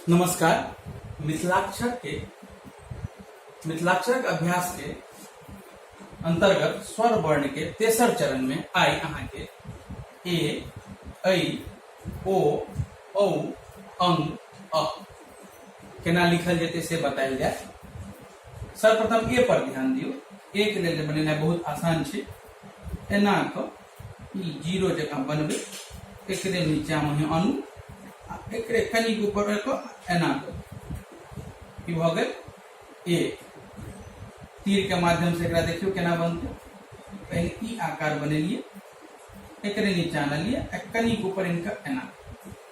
नमस्कार मिथिलाक्षर के मिथिलाक्षरक अभ्यास के अंतर्गत स्वर वर्ण के तेसर चरण में आई अहाँ के ए ऐ ओ औ अंग अ केना लिखल जेतै से बतायल जाय सर्वप्रथम ए पर ध्यान दियौ ए के लेल बनेनाइ बहुत आसान छै एना कऽ ई जीरो जकाँ बनबै एकरे नीचाँमे अहाँ आनू आ एकरे कनि ऊपर कऽ एना कऽ की भऽ गेल ए तीरके माध्यमसँ एकरा देखियौ केना बनतै पहिने ई आकार बनेलियै एकरे नीचाँ आनलियै आ कनि ऊपर इनका एना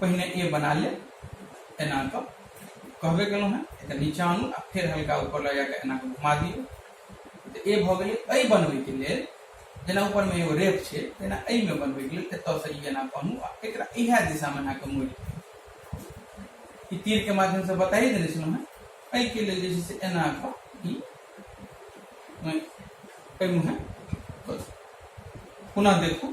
पहिने ए बना ले एना कऽ कहबे केलहुँ हेँ एकर नीचा आनू आ फेर हल्का ऊपर लऽ जाकऽ एना कऽ घुमा दियौ तऽ ए भऽ गेलै एहि बनबैके लेल जेना ऊपरमे एगो रेप छै तेना एहिमे बनबैके लेल एतयसँ ई एना बनू आ एकरा इएह दिशामे एना कऽ मोड़ि ई तीरके माध्यमसँ बताइए देने छलहुँ हेँ एहिके लेल जे छै से एना कऽ ई केलहुँ हेँ पुनः देखू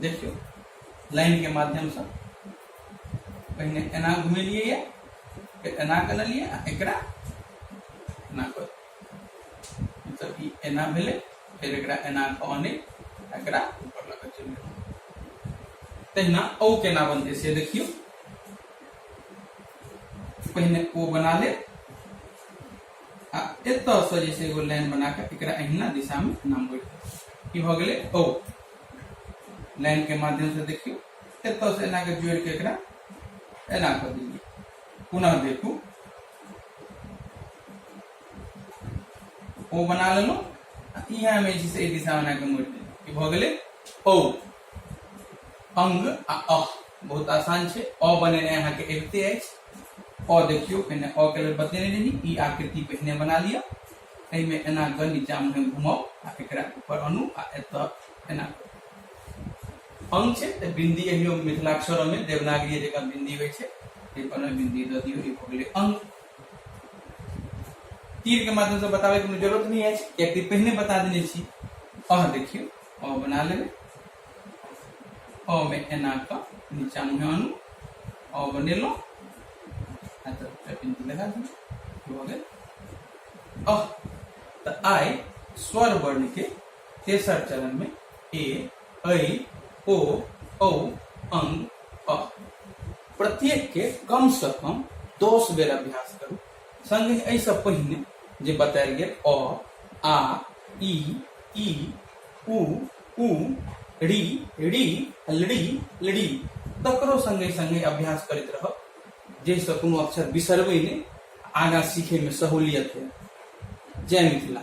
देखियौ लाइनके माध्यमसँ पहिने एना घुमेलियै यऽ फेर एना कनलियै आ एकरा एना कऽ मतलब ई एना भेलै फेर एकरा एना कऽ अनै एकरा ऊपर लऽ कऽ चलि गेलै तहिना ओ केना बनतै से देखियौ पहिने ओ बना लेब आ एतसँ जे छै एगो लाइन बना कऽ एकरा अहिना दिशामे नामबै ई भऽ गेलै ओ लाइनके माध्यमसँ देखियौ एतसँ एना कऽ जोड़ि कऽ एकरा एना कऽ दियौ पुनः देखू ओ बना लेलहुँ आ इएह हमे जे छै एहि दिशा बना कऽ मोड़ि देलहुँ ई भऽ गेलै ओ अंग आ अह बहुत आसान छै अ बनेनाइ अहाँके अबिते अछि अ देखियो एने अ के लेल बतेने रही ई आकृति पहिने बना लिया एहि में एना ग नीचा में घुमाओ आ एकरा ऊपर अनु आ एत एना अंग छै तऽ बिंदी एहियो मिथिलाक्षर में देवनागरी जगह बिंदी होइ छै ताहि पर बिंदी दऽ दियौ ई भऽ गेलै अंग तीर के माध्यम से बताबे के जरूरत नहीं है कि पहले बता देने छी अह देखियो अह बना लेबै ओ में एना का नीचा मुहे अनु ओ बनेलो आ तो टपिन के लगा दी हो गए अ त आय स्वर वर्ण के तेसर चरण में ए ऐ ओ औ अंग अ प्रत्येक के कम से कम दस बेर अभ्यास करू संगे एहि से पहिने जे बतायल गेल अ आ ई ई उ उ री री लड़ी लड़ी तकरो संगे संगे अभ्यास करैत रहब जाहिसँ कोनो अक्षर बिसरबै नहि आगाँ सीखैमे सहूलियत होइ जय मिथिला